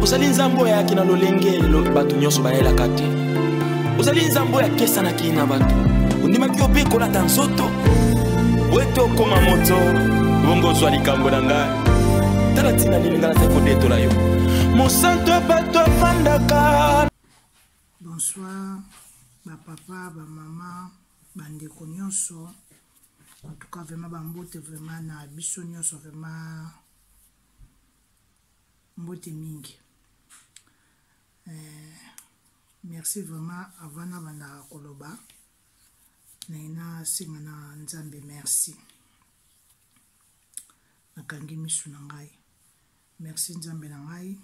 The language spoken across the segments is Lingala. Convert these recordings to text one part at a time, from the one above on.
ozali nzambe oyo ayaki na lolenge bato nyonso bayelaka te ozali nzambe oyo akesanaki na bato ondimaki yo mpe kolata nzoto wete okoma moto bongo ozwa likambo na ngai tala ntina nini ngai nazali kodetola yo mosanto ya bato afandaka bonsoir bapapa bamama bandeko nyonso en tout cas vraiment bambote vraiment na biso nyonso vraiment mbote mingi eh, merci vraiment avant nabandaka koloba naye nasenga na nzambe merci nakangi misu na ngai merci nzambe na ngai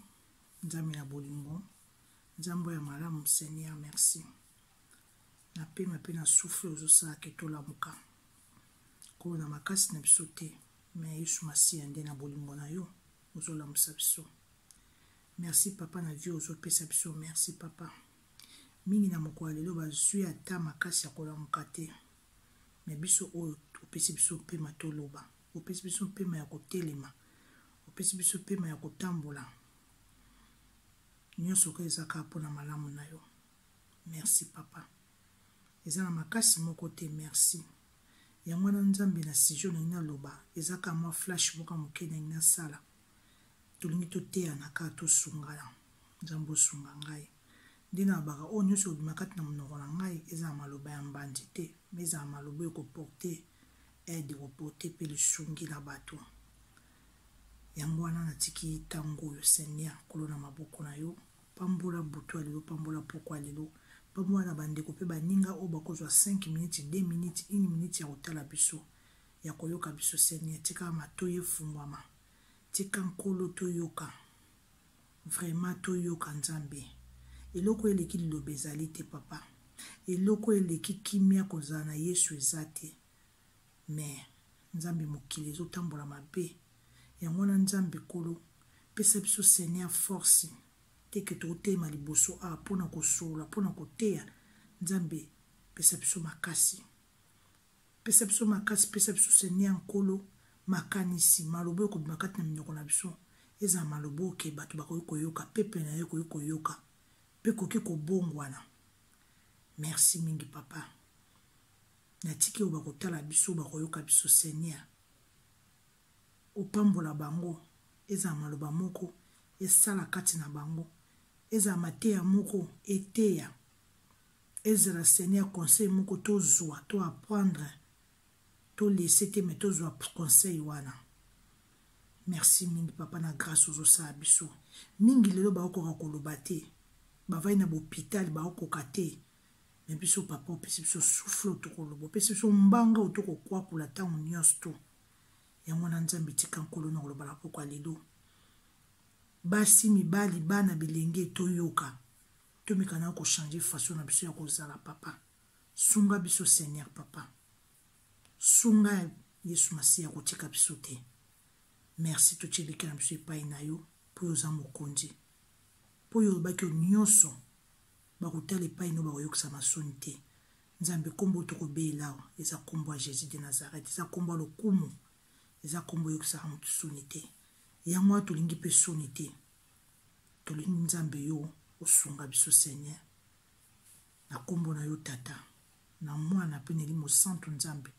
nzambe na bolingo nzambe ya malamu seigneur merci napema mpe na souffle ozosala ke tolamuka koo na makasi na biso te mais yesu masiya nde na bolingo na yo ozolamusa biso merci papa na vie ozopesa biso merci papa mingi na mokolo ya lelo bazwi ata makasi ya kolamuka te me biso oyo opesi biso mpema toloba opesi biso mpema ya kotelema opesi biso mpema ya kotambola nyonso oyo eza kaka mpo na malamu na yo merci papa eza na makasi moko te merci Yango wana nzambe na sujet olingi naloba eza kaka mwa flash moko ya moke nalingi nasala tolingi toteyana kaka tosungana nzambe osunga ngai nde nalobaka oyo nyonso ebima kati na monoko na ngai ezala maloba ya mbanzi te ma ezala maloba ekoporte aide ekoporte mpe lisungi na bato yango wana natiki ntango oyo seigneur kolo na maboko na yo Pambola butu ya lelo, pambola pokwa ya lelo, pambola na bandeko mpe baninga oyo bakozwa 5 minutes, 2 minutes, 1 minute ya kotala biso, ya koyoka biso. Seigneur, tika matoyi efungwama, tika Nkolo toyoka, vraiment toyoka Nzambe. Eloko oyo eleki liloba ezali te, Papa. Eloko oyo eleki kimia kozala na Yesu eza te. mais nzambe mokili ezotambola mabe yango wana nzambe kolo pesa biso seigneur force teke totelema liboso awa mpo na kosolola mpo na koteya nzambe pesa biso makasi pesa biso makasi pesa biso seigneur nkolo makanisi maloba oyo kobima kati na minoko na biso ezala maloba oke bato bakoki koyoka peple na yo ekoki koyoka mpe koki kobongwana merci mingi papa natiki oyo bakotala biso bakoyoka biso seigneur opambola bango ezala maloba moko esala kati na bango ezala mateya moko eteya ezala seigneur conseil moko tozwa to apprendre tolese te me tozwa conseil wana merci mingi papa na grâce ozosala biso mingi lelo baokoka koloba te bavai na bopitale baokoka te me biso papa opesi biso souffle oyo tokoloba opesi biso mbanga oyo tokokwakula ntango nyonso to yango wana nzambe tika nkolo na koloba na pokwa lelo basi mibali bana bilenge toyoka tomekana kochange faso na biso ya kozala papa sunga biso seigneur papa sunga yesu masiya kotika biso te merci totyeliki na biso epai na yo mpo yo oza mokonzi mpo yo olobaki yo nyonso Bakotala epai no bakoyokisama soni te. Nzambe kombo tokobeela awa eza kombo ya Jesus de Nazareth, eza kombo ya lokumu, eza kombo eyokisaka moto soni te. Yango wana tolingi mpe soni te, tolingi Nzambe yo osunga biso Seigneur, na kombo na yo Tata, na Mwana mpe na Elimo Santu Nzambe.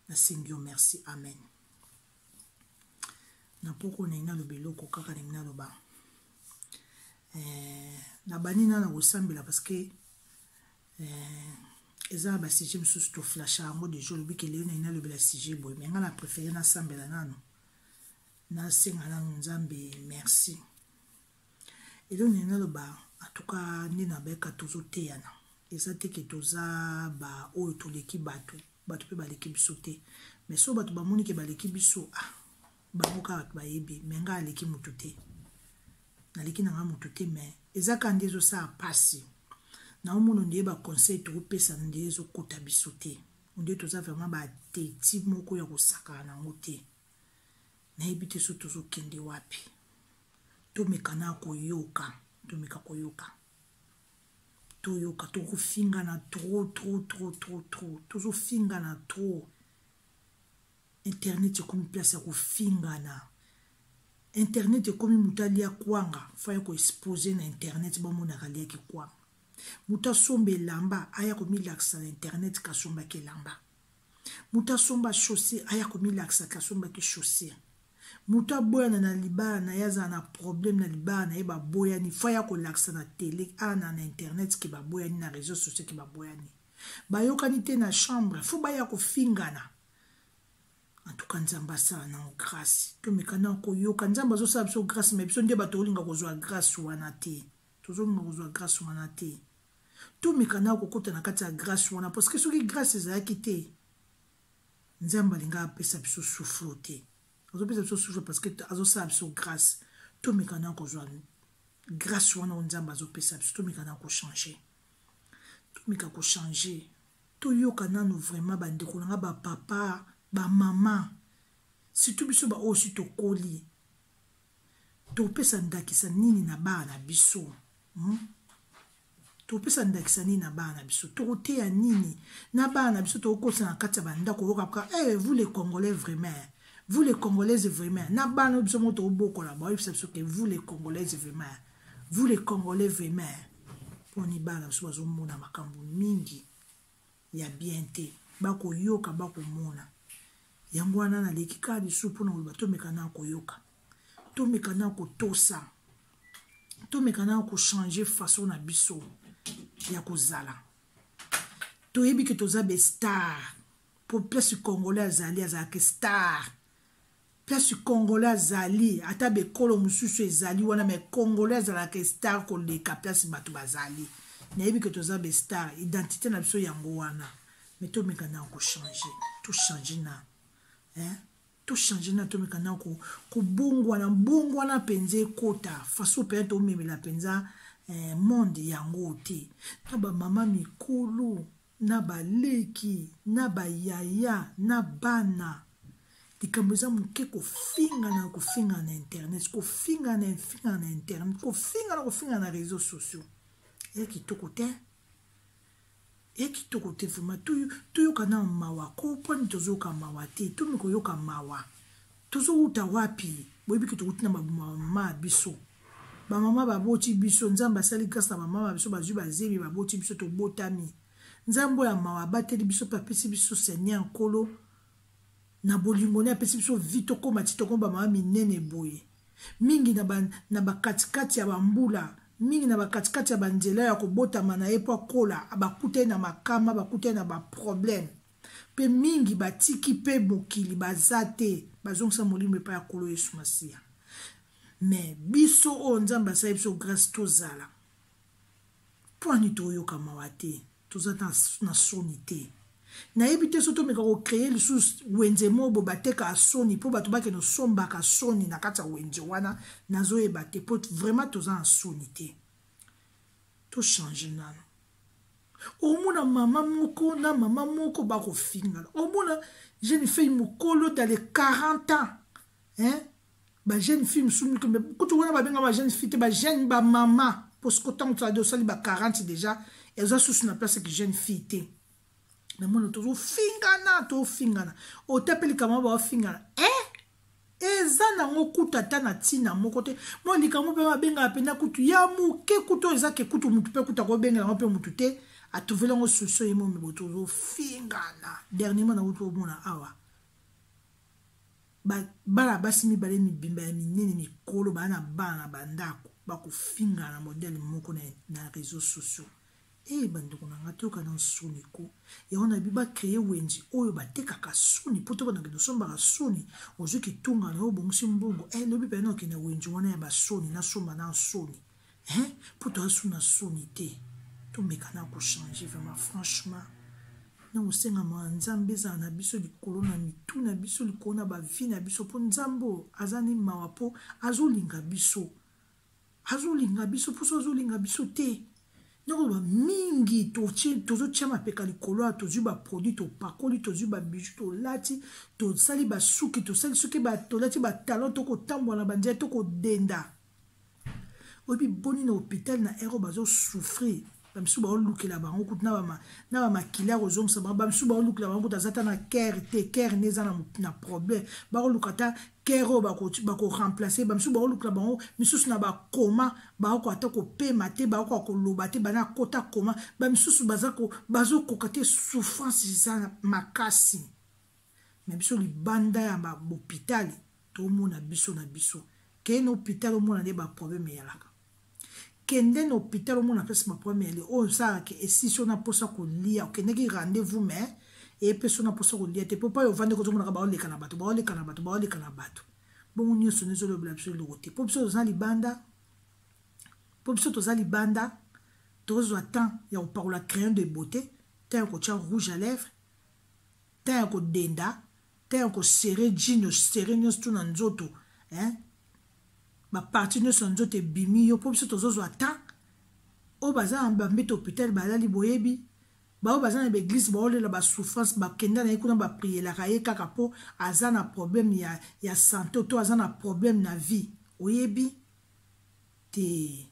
Nasengi yo merci, amen. na poko na ye naloba eloko kaka ndenge naloba eh, nabandi na na kosambela parce que eh, eza na basujet mosusu toflasha yango deja olobi kelelo na ye nalobela sujet boye me ngai na préféré nasambela nano nasenga nano nzambe merci Eloko nini naloba en tout cas nde na beka tozo teyana eza te ke toza ba oyo toleki bato bato mpe baleki biso te mais so bato bamoni ke baleki biso ah bango kaka bato bayebi me ngai aleki motu te naleki na ngai motu te me eza kaka nde ezosala mpasi naomona ondeye baconseil tokopesana ondeye ezokota biso te ondeye toza vraiment bateti moko ya kosakana yango te nayebi te so tozokende wapi tomeka na koyoka tomeka koyoka toyoka tokofingana tro tro tro tro tro tozofingana tro internet ekomi place ya kofingana internet ekomi moto alia kwanga faya koexpose na internet bamonaka aliaki kwanga moto asomba elamba aya komilakisa na internet kasombaki elamba moto asomba chaussure aya komilakisa te asombaki chaussure moto aboyana na libala na ye azala na problème na libala na ye baboyani fo aya kolakisa na tele ana na internet ke baboyani na réseau sociaux ke baboyani bayokani te na chambre fo baya kofingana antuka nzambe asala nango grâce tomeka na koyoka nzambe azosala biso grâce me biso nde bato olinga kozwa grâce wana te tozolinga kozwa grâce wana te tomeka na kokota na kati ya grace wana parce que soki grace ezalaki te nzambe alinga apesa biso souffle te azopesa biso souffle parce que azosala biso grace tomeka na kozwa grace wana oyo nzambe azopesa biso tomeka na kochange tomeka kochange toyoka nanu vraiment bandeko na nga bapapa bamama surtout biso baoyo si tokoli topesa ndakisa nini na bana na biso hmm? topesa ndakisa nini na bana na biso tokoteya nini na bana na biso tokokotisa na kati ya bandako oyoka ka hey, eh, vous les congolais vraiment vous les congolaise vraiment na bana oyo biso moko tokobokola baoyebisa biso ke vous les congolaise vraiment vous les congolais vraiment mponi bana biso bazomona makambo mingi ya bien te bakoyoka bakomona yango wana naleki kaka lisusu mpona koloba tomekana koyoka tomekana kotosa tomekana kochange façon na biso ya kozala toyebi ke toza bestar mpo place congolais azali azalaki star Kasi congolais azali ata bekolo mosusu ezali wana me congolais azalaka estar koleka place bato bazali nayebi ke toza bestar identité na biso yango wana me tomeka na kochange tochange na eh? tochange na tomeka na kobongwana bongwana mpenza ekota faso mpenza tomemela mpenza eh, monde yango te na bamama mikolo na baleki na bayaya na bana likambo eza moke kofinga na kofinga na internet kofinga na finga na internet kofinga na kofinga na réseau sociaux ya kitoko te ya kitoko te vraimen toyoka na mawa ko mponi tozoyoka mawa te tomi koyoka mawa tozowuta wapi boyebi ke tokoti na bamama ya biso bamama baboti biso nzambe asali grâce na bamama ya biso bazwi bazebi baboti biso tobotami nzambe oyo ya mawa abateli biso mpe apesi biso seigneur nkolo na bolingo ne apesi biso vi tokóma ti tokoma bamama minene boye mingi na bakatikati ya bambula mingi na bakatikati ya banzela ya kobotama na ye mpo akola bakutani na makama bakutani na baproblème mpe mingi batiki mpe mokili baza te bazongisa molimo epai ya nkolo yesu masiya me biso oyo nzambe asali biso grâce tozala mpwani toyoka mawa te toza na soni te nayebi te soki tomeka kocreye lisusu wenze moko boye batekaka soni mpo bato bakende osombaka soni na kati ya wenze wana nazoyeba te mpo vraiment toza na soni te tochange nano omona mama moko na mama moko bakofingana omona jeune fille mokolo dans les 40 ans hein? bajeune fille mosusu mike kutu wana babenga bajeune fille te bajeune bamama mpo soko ntango tozali osali ba 40 déjà eza susu na place ki jeune fille te na mwana tozofingana tofingana otape likambo baofingana e eh? eza nango kutu ata na ntina moko te mwa likambo mpe babengaka mpenza kutu ya moke kutu eza ke kutu motu mpe kutu akobengela yango mpe motu te atuveli yango susu ye momi boto ozofingana dernierement nakuti omona awa bana basi mibale mibimba ya minene mikolo baa na bana na bandako bakofingana modele moko na réseau sociaux Ee eh, bandeko na ngai toyoka na nsoni ko yango na bi bacreye wenzi oyo batekaka soni mpo te banakende osombaka soni ozwi kitunga na yo obongisi mbongo e eh, lobi mpena okende wenzi wana ya basoni nasomba na nsoni e mpo toasu na soni te tomeka na kochange vraiment franchement na kosengama ya nzambe ezala na biso likolo na mitu na biso likolo na bavi na biso mpo nzambe oyo aza ni mawa mpo azolinga biso azolinga biso mposo azolinga biso te nakoloba mingi tozotya mapeka likolo ya tozwi baproduit topakoli tozwi babiju tolati tosali basuki tosali soki tolati batalon tokotambola na banzela tokodenda oyebi boni na hôpital na ero bazosouffrir bamisusu baolukela bango kutu na bamakila ya kozongisa bango bamisusu baolukela bango kutu aza ata na kere te kere nde eza na problème bakoluka ata kere oyo bakoremplace bamisusu baolukela bango misusu na bakoma baoko ata kopema te baokoka koloba te bana kota koma bamisusu bazokoka te souffrance eza makasi mais biso libanda ya ba hôpital tomona biso na biso kei na hôpital omona nde ba problème eyalaka kende na hôpital omona pesi ba problème eyali oyo osalaka ke esisi ona mposa kolia okendeki rendez-vous mais epesi ona mposa kolia te mpo pai ovandi kozomonaka baoleka na bato baoleka na bato baoleka na bato bongo nyonso nde ezolobela biso eloko te mpo biso toza libanda mpo biso toza libanda tozwa temps ya kopakola crayon de beauté temps ya kotya rouge à lèvre temps ya kodenda temps ya kosere jino sere nyonso tu na nzoto eh? baparti nyonso ya nzoto ebimi yo mpo biso tozozwa temps oyo baza na bambete hôpital balali boyebi baoyo baza na baeglise baolela basouffrance bakenda na ye kuna baprielaka ye kaka mpo aza na problème ya, ya santo to aza na problème na vie oyebi te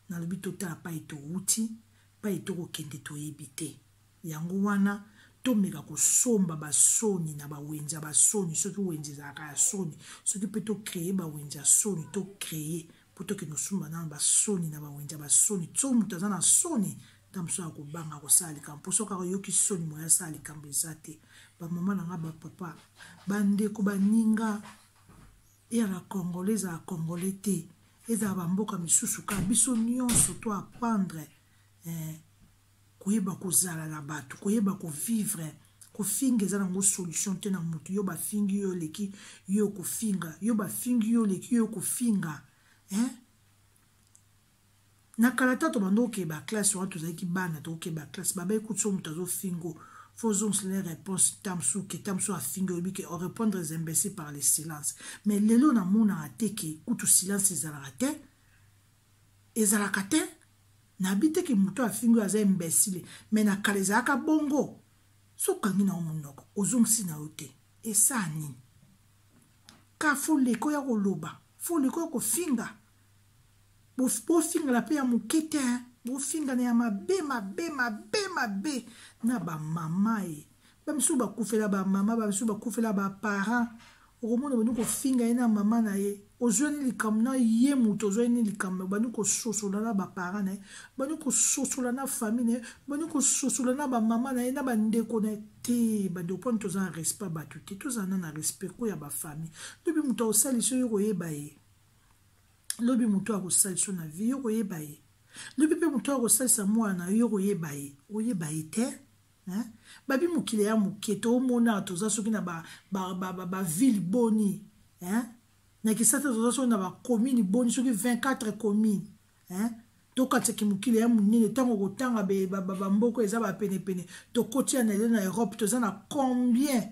nalobi totala pai towuti pai tokokende toyebi te Yango wana, tomeka kosomba basoni na bawenze ya basoni soki wenze ezalaka ya soni soki mpe tocreye bawenze ya soni tocreye mpo tokende kosomba nano basoni na bawenze ya basoni so moto aza na soni ntango mosusu akobanga kosala likambo mpo soki ayoki soni moye asala likambo eza te bamama na ngai bapapa bandeko baninga eyaka congolais ezala congolais te ezala bamboka misusu kaka biso nyonso to apprendre eh, koyeba kozala na bato koyeba kovivre kofinga eza nango solution te na motu yo bafingi yo oleki yo kofinga yo bafingi yo oleki yo kofinga hein? na kala ta tobanda okeba classe wana tozalaki bana tokeba classe babai kutu so moto azofingo fozongisa na réponse tamsu ke tamsu afingi oyebi ke orépondre les imbécile par le silence mais lelo namonaka te ke kutu silence ezalaka te ezalaka te nayebi te ke moto afingi oyo aza imbesile me na kala ezalaka bongo so okangi na yo monoko ozongisi na yo te esaa nini ka fo leka oya koloba fo leka oya kofinga bofingana mpe ya moke te bofingana ya mabe mabe mabe mabe na bamama ye bamisusu bakufela bamama bamisusu bakufela baparent okomona obandi kofinga ye na mama na ye ozwani likambo na ye moto ozwani ni likambo obandi kososola na baparent na ye obandi kososola na famille na ye obandi kososola na bamama na ye na bandeko na ye te bandeko mponi toza na respect bato te tozala na na respect ko ya bafamille lobi moto akosalisa yo koyeba ye lobi moto akosalisa na vie yo koyeba ye lobi mpe moto akosalisa mwana na yo koyeba ye oyeba ye te hein? babi mokili ya moke toomona toza soki na bavile ba, ba, ba, ba boni hein? na kisasa toza soki na bacommune boni soki 24 commune hein? tokatisaki mokili ya monene ntango okotanga bamboko eza bapenepene tokoti ya na lelo na europe toza na combien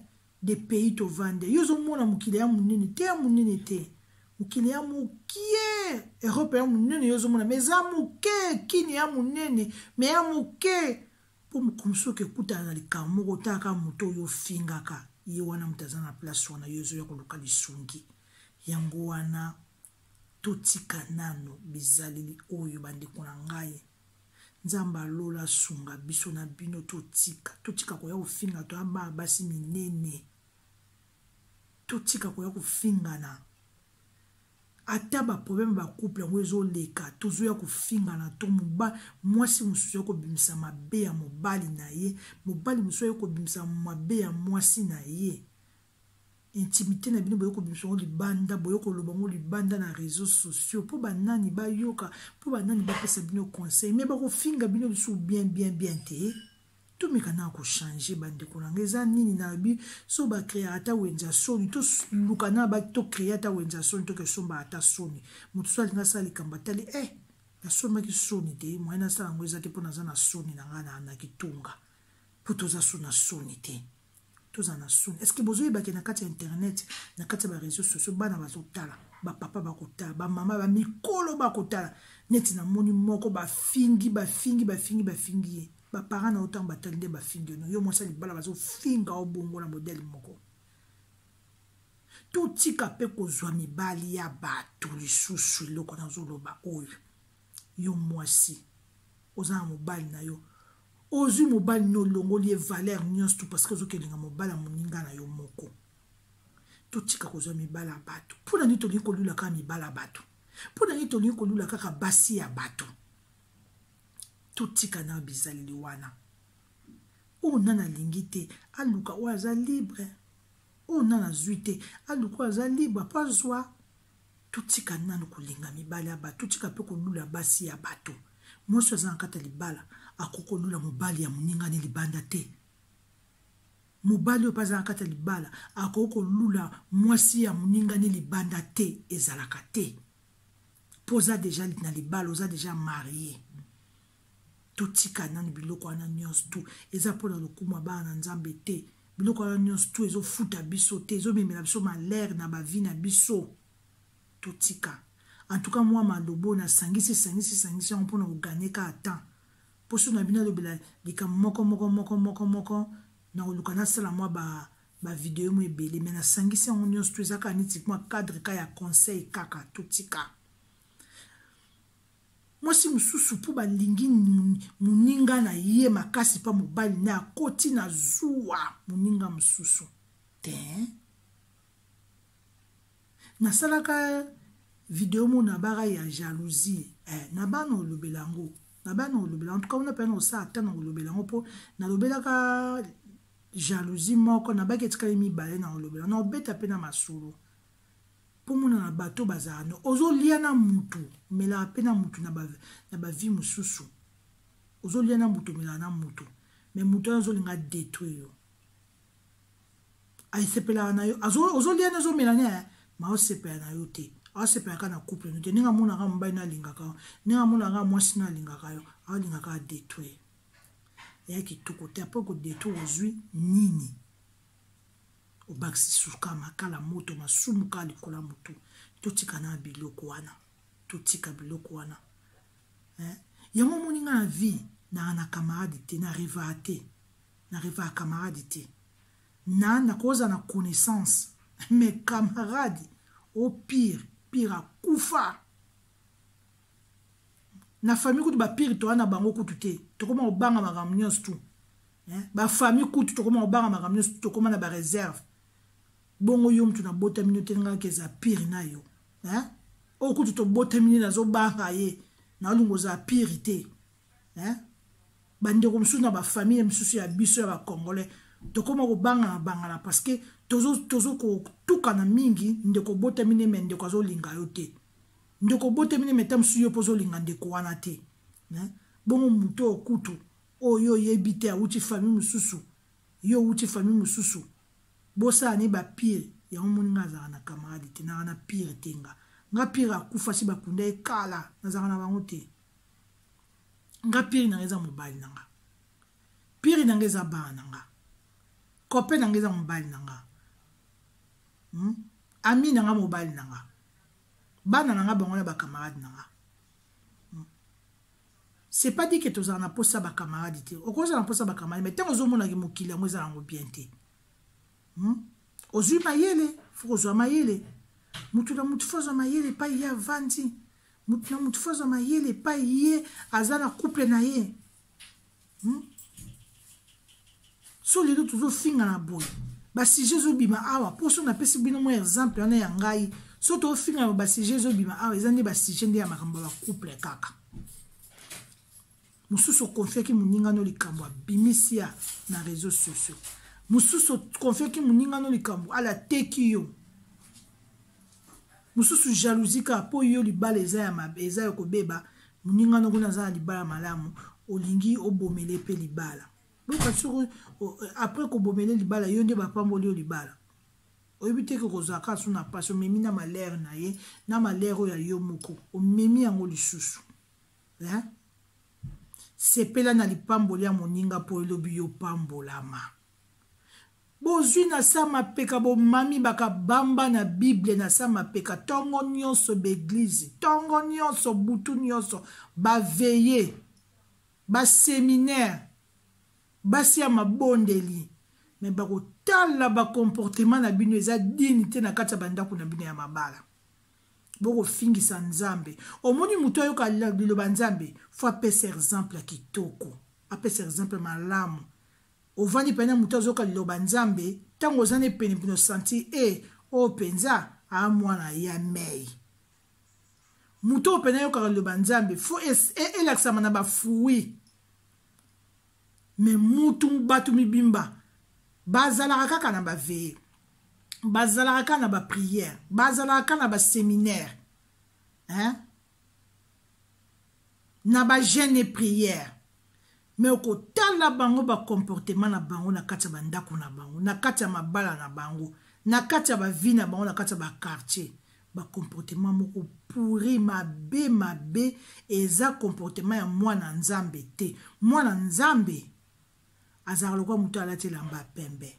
de pays tovandi yo ozomona mokili ya monene te ya monene te mokili ya mokie europe ya monene yo ozomona ma eza moke kini ya monene ma ya moke po mokolo soki ekutana na likambo moko otala kaka moto oyo ofingaka ye wana moto aza na place wana yo ezoya koluka lisungi yango wana totika nano bizaleli oyo bandeko na ngai nzambe alola asunga biso na bino totika totika koya kofinga to abaa basi minene totika koya kofingana ata ba problème ba couple yango ezoleka tozoya kofingana to moba mwasi mosusu ya kobimisa mabe ya mobali na ye mobali mosusu aye kobimisa mabe ya mwasi na ye intimité na bino boye kobimisa yango libanda boye koloba yango libanda na réseau sociaux mpo banani bayoka mpo banani bapesa bino conseil me bakofinga bino lisusu bien bien bien te tomeka na kochange bandeko na ngai eza nini nalobi so bacreaka ata wenze ya soni toluka na ba tocree ata wenze ya soni toke sombaka ata soni moto so alingi asala likambo atali e eh, nasombaki soni te moyen nasala yango eza te mpo naza na soni na ngai na kitunga mpo toza so na soni te tozala na soni estce bozoyebake na kati ya internet na kati ya bareseau sociaux bana bazotala bapapa bakotala bamama bamikolo bakotala neti namoni moko bafingi bafingi bafingi bafingi ye baparent na yo ntango batali nde bafingi yo no yo mwasi ya libala bazofinga yo bongo na modele moko totika mpe kozwa mibali ya bato lisusu eloko nazoloba oyo yo mwasi oza na mobali na yo ozwi mobali no olongoli ye valeur nyonso tu parce que ozokelinga mobali ya moninga na yo moko totika kozwa mibala ya bato mpo na nini tolingi kolula kaka mibala ya bato mpo na nini tolingi kolula kaka basi ya bato totika na bizaleli wana oyo nani alingi te aluka oyo aza libre oyo nani azwi te aluka oyo aza libre mpo azwa totika nanu kolinga mibali ya bato totika mpe kolula basi ya bato mwasi aza na kati ya libala akoki kolula mobali ya moninga ne libanda te mobali oyo mpe aza na kati ya libala akoki kolula mwasi ya moninga ne libanda te ezalaka te mpo oza deja na libala oza deja marie totika nanu biloko wana nyonso tu eza mpo na lokumu ya bana na nzambe te biloko wana nyonso tu ezofuta biso te ezomemela biso malere na bavi na biso totika en tout cas mwa maloba oyo nasangisi esangisi esangisi yango mpona koganye kaka temps mposo na bino alobela likambo moko moko moko moko moko nakoluka nasala mwa ba bavideo mo ebele me nasangisi yango nyonso to eza kaka neti mwa cadre ka ya conseil kaka totika mwasi mosusu mpo balingi moninga na ye makasi mpa mobali na akoti na zuwa moninga mosusu te nasalaka video mo na bara ya jalousie eh, na bana olobela yango na bana olobela en tout cas wana mpe na osala ata na olobela yango mpo nalobelaka jalousie moko nabaki etikali mibale na olobela na obeta mpe na masolo komona na bato bazala no ozolia na mutu omelaka mpe na mutu na bavie mosusu ozolia na mutu omelaka na mutu me mutu wana azolinga detruire yo asepelaka na yo ozolia na ozomela na ye ma osepela na yo te asepelaka na couple no te ndenge amonaka mobali no alingaka yo ndenge amonaka mwasi no alingaka yo alingaka adetruire eya kitoko te apres kodetruire ozwi nini obakisi suka makala moto masumu kaka likolo ya motu totika na biloko wana totika biloko wana eh? yango omoni ngai na vie naa na camarade te na revaa te na revaa camarade te na nakoza na connaissance mais camarade au pire pire akufa na famille kutu bapire toa na bango kutu te tokoma kobanga makambo nyonso tu bafamille kutu tokoma kobanga makambo nyonso tu tokoma na bareserve bongo yo motu nabotami no telingaki eza pire na yo oyo kutu tobotami ne nazobanga ye naolinga oza pire te bandeko mosusu na bafamille mosusu ya biso ya bacongolais tokoma kobangana bangana parce que tozokotukana mingi ndeko obotami ne me ndeko azolinga yo te Ndeko obotemi ne meta mosusu yo mpo ozolinga ndeko wana te. Bongo moto oyo kutu oyo yo oyebi te awuti famille mosusu yo owuti famille mosusu bosala ne ba pire yango moni nga azalaka na camarade te naka na pire te nga nga pire akufa si bakunda ye kala nazalaka na bango te nga pire nanga eza mobali na nga pire nanga eza bana na nga kope nanga eza mobali na nga hmm? ami nanga mobali na nga bana na nga bango na bacamarade na nga hmm. c'est pas dit ke tozala na mposa bacamarade te okozala na mposa bacamarade mai ntango ozomonaki mokili yango eza yango bien te hmm? ozwi mayele fo kozwa mayele motu na motu fo azwa mayele epai ye avandi motu na motu fo azwa mayele epai ye aza na couple na ye hmm? so lelo tozofingana boye basujet ezobima awa mpo so napesi bino mwa exemple wana ya ngai so tofingana basujet ezobima awa eza nde basujet nde ya makambo ya bacouple kaka mosusu okonfiaki moninga no likambo abimisi ya na réseau sociaux mosusu okonfiaki moninga no likambo alateki yo mosusu jalousie kaka mpo yo libala eza ya mabe eza ya kobeba moninga noko na aza na libala malamu olingi obomele mpe libala boka soki après kobomele libala yo nde bapamboli yo libala oyebi te ke kozala kaka so na mpasi omemi na malere na ye na malere oyo ya yo moko omemi yango lisusu hein? sepela na lipamboli ya moninga mpo elobi yo pambolama Bozui na sa mapeka bomami baka bamba na bible na sa mapeka tongo nionso b'eglise tongo nionso butu nionso ba veille ba seminaire basi ya mabondeli me bako tala ba comportement na bino eza dini te na kati ya bandako na bino ya mabala bokofingisa nzambe omoni moto ayoka liloba nzambe fo apesa exemple ya kitoko apesa exemple malamu Ovandi pene na moto azoka liloba Nzambe, tango oza ne pene pene osanti e eh, oyo penza a ah, mwana ya mei. Moto oyo pene ayokaka liloba Nzambe fo e, e, elakisama na bafui. Me mutu bato mibimba bazalaka kaka na baveye bazalaka kaka na bapriere bazalaka kaka na baseminaire hein? na ba jeune et prière me okotala bango bacomportement na bango na kati ya bandako na bango na kati ya mabala na bango na kati ya bavie na bango na kati ya baquartier bacomportement moko puri mabe mabe eza comportement ya mwana nzambe te mwana nzambe azalaka lokola moto alati elamba ya pembe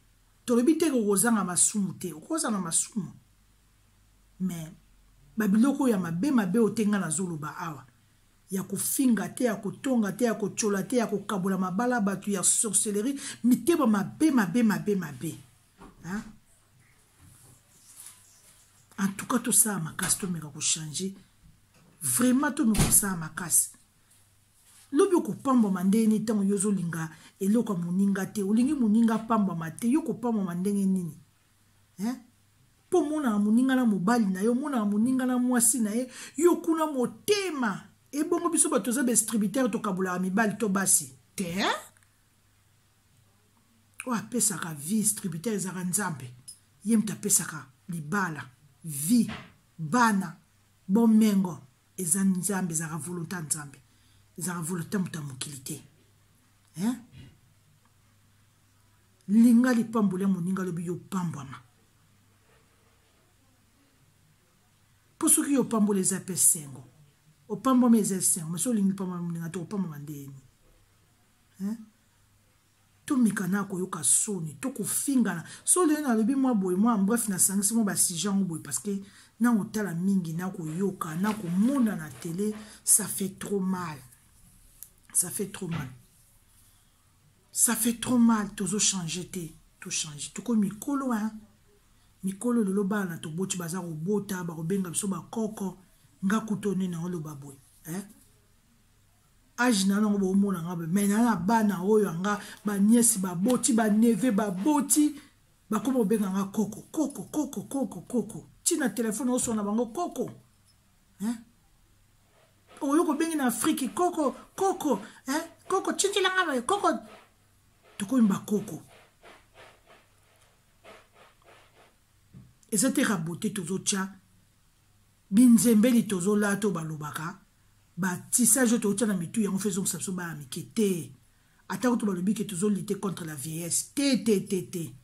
tolobi te kokozanga masumu te okozala na masumu me babiloko ya mabe mabe oyo te ngai nazoloba awa ya kofinga te ya kotonga te ya kotyola te ya kokabola mabala bato ya sorcellerie mitema mabe mabe mabe mabe hein? en tout cas tosala makasi tomeka kochange vraiment tomeka kosala makasi lobi okopambwama ndenge nini ntango yo ozolinga eloko ya moninga te olingi moninga apambwama te yo okopambwama ndenge nini eh? mpo omonaka moninga na mobali na ye omonaka moninga na mwasi na ye yo kuna motema ebongo biso bato toza badistributere tokabolaka mibali to basi te oyo apesaka vie distributere ezalaka nzambe ye moto apesaka libala vie bana bomengo eza nzambe ezalaka volonté ya nzambe ezalaka volonté moto ya mokili te hein? linga lipamboli ya moninga lobi yopambwama mpo soki yopamboli eza mpe sengo opambwama eza esengo ma soki olingi lipambwama moninga te opambwama ndeyeni hein? tomekana koyoka soni to kofingana so lelo nalobi mwa boye mwa bref nasangisi mwa basije yango boye parce que na kotala mingi na koyoka na komona na tele ça fait trop mal ça fait trop mal ça fait trop mal tozochange te tochange toko mikolo hein? mikolo lelo bana toboti baza kobota bakobenga biso bakoko nga kutu onene oloba boye eh? age na nango bomona nga boye mai naa na bana oyo anga baniesi baboti baneve baboti bakoma obenga nga koko koko koko koko koko ntina telefone osona bango koko hein? oyo kobengi na afriki koko koko hein? koko tindela nga boye koko tokomi bakoko eza te rabote tozotya binzembeli tozolata oyo balobaka batisage oyo tootya na mitu yango mpe ezongisa biso bana mike te ata kutu balobi ke tozolite contre la vieillesse te te te te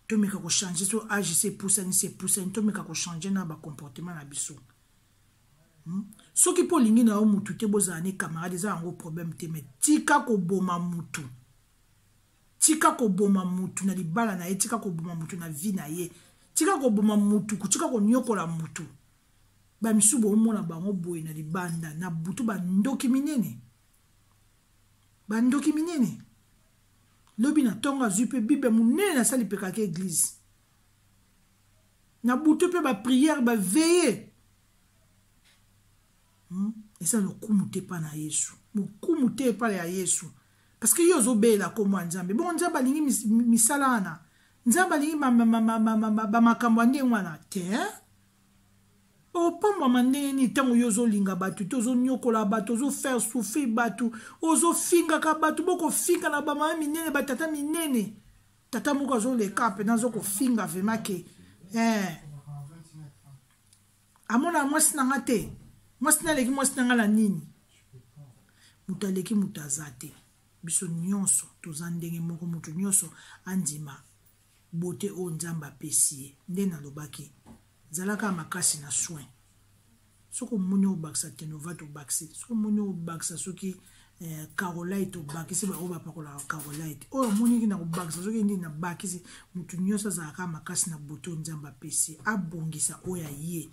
tomeka kochange so age se epusani se epusani tomeka kochange na bacomportement na biso hmm? soki mpo olingi na yo mutu te bozala ne camarade eza yango problème te mai tika koboma mutu tika koboma mutu na libala na ye tika koboma mutu na vie na ye tika koboma mutu tika konyokola mutu bamisusu bomona bango boye na libanda na butu bandoki minene bandoki minene lobi na ntongo azwi mpe bible monene nasali mpekaka eglize na butu mpe bapriere baveye hmm? eza lokumu te epai na yesu lokumu te epai ya yesu parce que yo ozobela kombo ya nzambe bongo nzambe alingi mis, misala wana nzambe alingi bamakambo ya ndenge wana te opambwama ndenge nini ntango yo ozolinga bato te ozonyokola bato ozofaire souffrir bato ozofingaka bato bokofinga na bamama minene batata minene tata moko azoleka mpe nazokofinga vrema ke eh. amonaka mwasi na nga te mwasi na aleki mwasi na nga na nini moto aleki moto aza te biso nyonso toza ndenge moko moto nyonso andima bote oyo nzambe apesi ye nde nalobaki zalaka makasi na soin soki omoni obakisa tenova tobakisi soki omoni obakisa soki eh, carolite obakisi baoyo bapakolaka carolite oyo omoniki na kobakisa soki nini nabakisi motu nyonso azalaka makasi na boto nzambe apesi abongisa oyo aye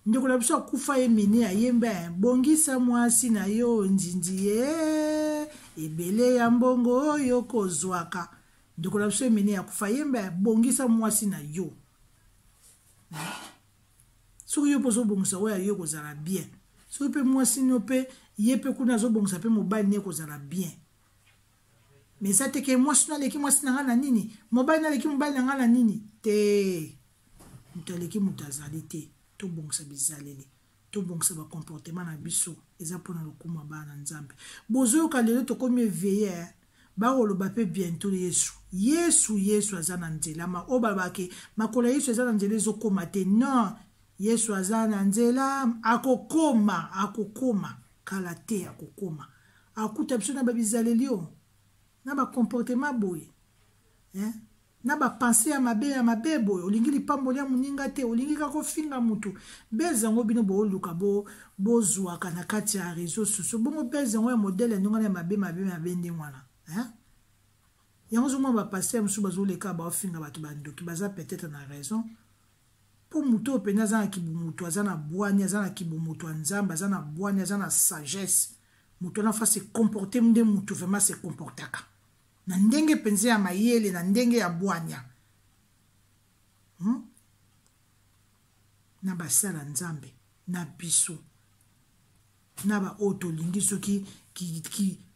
ndeko na biso akufa ye mene ayembe eh, bongisa mwasi na yo nzinzi ye eh, ebele ya mbongo oyo kozwaka ndeko na biso emene akufa yembe bongisa mwasi na yo soki yo mpe ozobongisa oyo aye kozala bien soki mpe mwasi nio mpe ye mpe kuna azobongisa mpe mobali nie kozala bien me eza te ke mwasi no aleki mwasi na ngai na nini mobali no aleki mobali na ngai na nini te moto aleki moto azali te tobongisa bizaleli tobongisa bacomportement na biso eza mpona lokumu ya bana na nzambe bozoyoka lelo tokomi eveye eh? Bakoloba pe bientot Yesu. Yesu, Yesu aza na nzela. Ma, oyo balobaka ke makolo ya Yesu eza na nzela ezokoma te. Non! Yesu aza na nzela, akokoma, akokoma. Kala te, akokoma. Akuta biso na ba bizaleli oyo, na ba comportement ya boye. Hein? na ba pensee ya mabe ya mabe boye olingi lipamboli ya moninga te olingi kaka ofinga motu base yango bino booluka bozwaka bo na kati ya réseau sociaux bongo base yango ya modele ya ndenge wana ya mabe mabe mabe ndenge wana hein? yango ozomona bapaster mosusu bazoleka baofinga bato bandoki baza peut-être na raison mpo moto oyo mpenza aza na kibomoto aza na bwani aza na kibomoto ya nzambe aza na bwani aza na sagesse moto wana fa se comporte nde moto vraiment se comportaka na ndenge mpenza ya mayele na ndenge ya bwanya hmm? na basala nzambe na biso na baoyo tolingi soki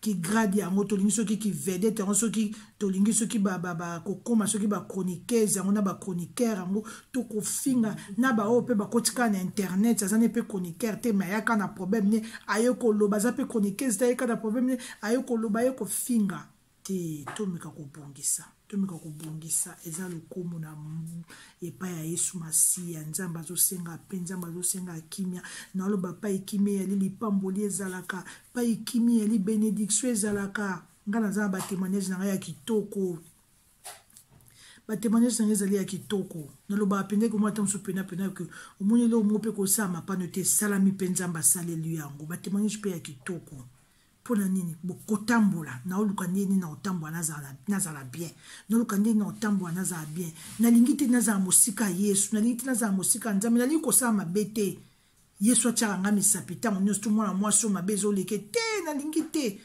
kigrade yango tolingi soki kivedete yango soki tolingi soki kokóma soki bachroniqueuse yango na bachroniqueur yango to kofinga na baoyo mpe bakotika na internet aza ne mpe chroniqueur te me ayaka na problème ne aye koloba aza mpe chroniqueuse te ayeka na problème ne aye koloba aye kofinga te tomeka kobongisa tomeka kobongisa eza lokumu na epai ya yesu masiya nzambe azosenga mpe nzambe azosenga kimia naloba pai kimia eyali lipamboli ezalaka pai kimia eyali benediktio ezalaka ngai naza na batemoignage na ngai ya kitoko batemoignage na ngai ezali ya kitoko nalobaka mpenzaki omona ata mosusu penapena ke omoni eloko moko mpe kosala mapano te esalami mpe nzambe asaleli yango batemoignage mpe ya kitoko mpo na nini bokotambola naoluka ndenge nini nakotambola nazala, nazala bien naoluka ndenge nini nakotambola nazala bien nalingi te nazala mosika ya yesu nalingi te nazala mosika ya nzambe nalingi kosala mabe te yesu atyaka ngai misapi ntango nyonso to mwana mwasi oyo mabe ezoleke te nalingi te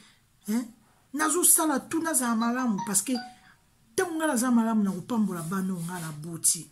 eh? nazosala tu nazala malamu parce que ntango ngai naza malamu nakopambola bana oyo ngai naboti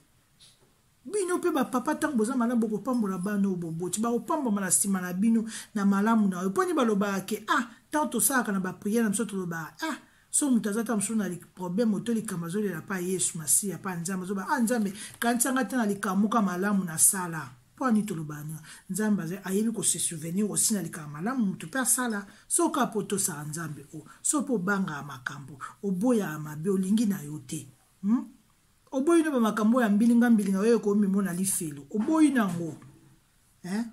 bino mpe bapapa ntango boza malamu bokopambola bana oyo boboti bakopambwama na nsima na bino na malamu na yo mpo nde balobaka ke ah ntango tosalaka na bapriere na biso tolobaka ah so moto aza ta mosusu na problème oto likambo azolela mpa yesu masiya mpa nzambe azoba a ah, nzambe kanisanga te na likamuka malamu nasala mpo ani toloba na nzambe azali ayebi kosesouvenir osi na likambo malamu moto mpe asala soki apo tosala nzambe o so mpo obangaka makambo oboyaka mabe olingi na yo te hmm? oboyi na bamakambo ya mbilinga mbilinga oyo ekomimona lifelo oboyi na yango eh?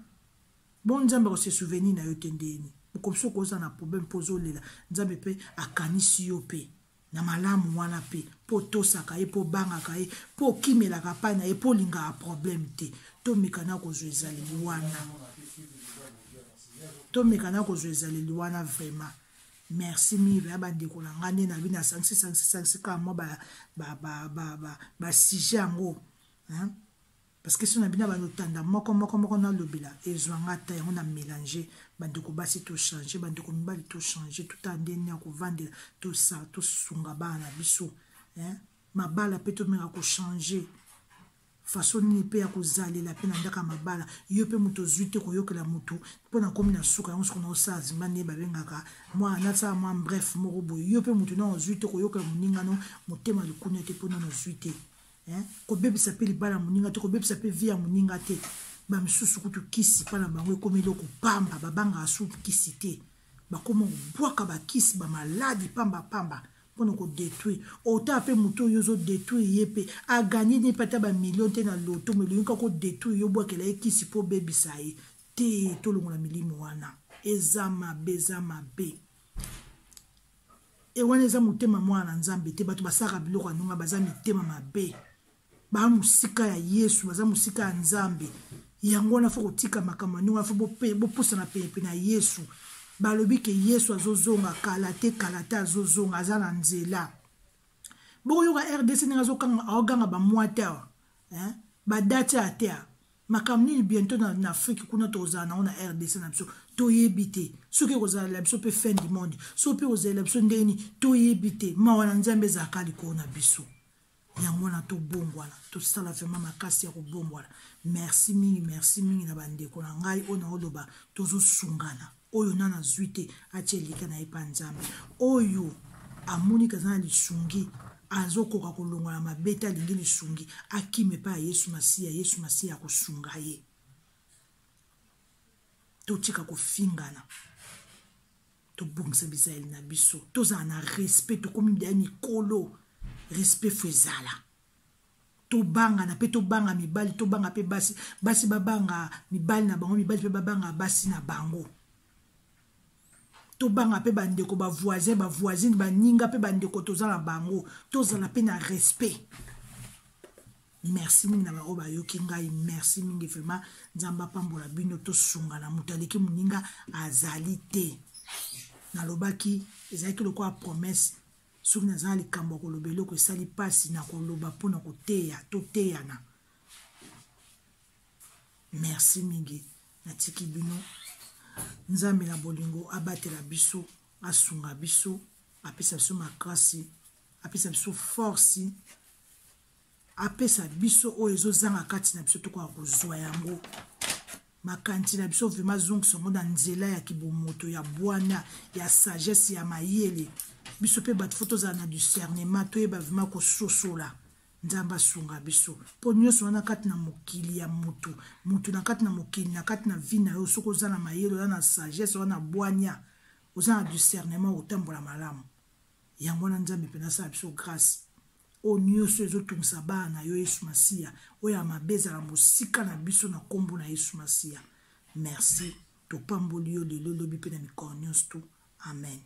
bon nzambe akose souvenir na yo te ndeni okomisi okoza na problème mpo ozolela nzambe mpe akanisi yo mpe na malamu wana mpe mpo otosaka ye mpo obangaka ye mpo okimelaka pai na ye mpo olingaka problème te tomekana kozwa ezaleli wana tomekana kozwa ezaleli wana vraiment merci mire ya bandeko na ngai nde na bino asangisi sangisi sangisi kaka mwa basujet yango parce que so na bino bando tanda moko moko moko nalobela ezwa nga ata yango na mélange bandeko basi tochange bandeko mibali tochange tota nde nini ya kovandela tosunga bana na biso mabala mpe tomeka kochange faso nini mpe ya kozalela mpe na ndaka mabala yo mpe moto ozwi te koyokela moto mpo na komi na suka yango soko naosala zimba nde babengaka mwa nasala mwa bref moko boye yo mpe moto nao ozwi te koyokela moningano motema likunia te mpo nano ozwi te kobebisa mpe libala ya moninga te kobebisa mpe vi ya moninga te bamisusu kutu kisi mpo na bango ekomi eloko pamba babangaka su kisi te bakoma kobwaka bakisi bamaladi pambapamba mpo na kodetruire ota mpe moto oyo ozodetruire ye mpe aganye nde mpe ata bamilio te na loto melingi kaka odetruire yo obwakela ye kisi mpo obebisa ye te tolongola milimo wana eza mabe eza mabe e wana eza motema mwana na nzambe te bato basalaka biloko ya ndonga baza mitema mabe baa mosika ya yesu baza mosika ya nzambe yango wana fo kotika makambo ya ndenge wana fo bopusana penepene ya yesu balobi ke yesu azozonga kala te kala te azozonga aza na nzela bokoyoka rdc ndenge azokanga aoganga bamwa te awa badate ya te makambo nini bientôt na, na afrique kuna tozala nango na rdc na biso toyebi te soki ekozalela biso mpe fin du monde soki mpe ekozalela biso ndenge nini toyebi te mawa na nzambe ezalaka likolo na biso yango wana tobongwana tosala vraimen makasi ya kobongwana merci mingi merci mingi na bandeko na ngai oyo naoloba tozosungana oyo na nazwi te atya elika na ye mpa nzambe oyo amoni kaza na lisungi azokoka kolongola mabe te alingi lisungi akima epai ya yesu masiya yesu masiya akosunga ye totika kofingana tobongisa bizaleli na biso tozala na respect tokomi bya mikolo respect fo ezala tobangana mpe tobanga mibali tobanga mpe basi basi babanga mibali na bango mibali mpe babanga basi na bango tobanga mpe bandeko bavoisin bavoisine baninga mpe bandeko toza na bango tozala mpe na respect merci mingi na baoyo bayoki ngai merci mingi vraiment nzambe apambola bino tosungana moto aleki moninga azali te nalobaki ezalaki lokola promesse soki naza na likambo ya koloba eloko esali mpasi na koloba mpo na koteya toteyana merci mingi natiki bino nzambe na bolingo abatela biso asunga biso apesa biso makasi apesa biso force apesa biso oyo ezozanga kati na biso tokoka kozwa yango makanisi na biso vraimen azongisa yango na nzela ya kibomoto ya bwana ya sagesse ya mayele biso mpe bato fo tozala na discernement toyeba vraimen kososola nzambe asunga biso mpo nyonso wana kati na mokili ya motu motu na kati na mokili na kati na vi na yo soki oza na mayele oza na sagesse oza na bwania oza na discernement okotambola malamu yango wana nzambe mpenza asala biso grâce oyo nyonso ezotungisa bana na yo yesu masiya oyo ya mabe ezala mosika na biso na nkombo na yesu masiya merci topamboli yo lelo lobi mpe na mikolo nyonso tu amen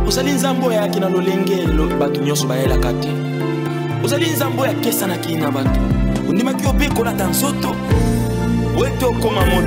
ozali nzambe oyo ayaki na lolenge bato nyonso bayelaka te ozali nzambe oyo akesanaki na bato ondimaki obe kolata nzoto oyo ete okoma moto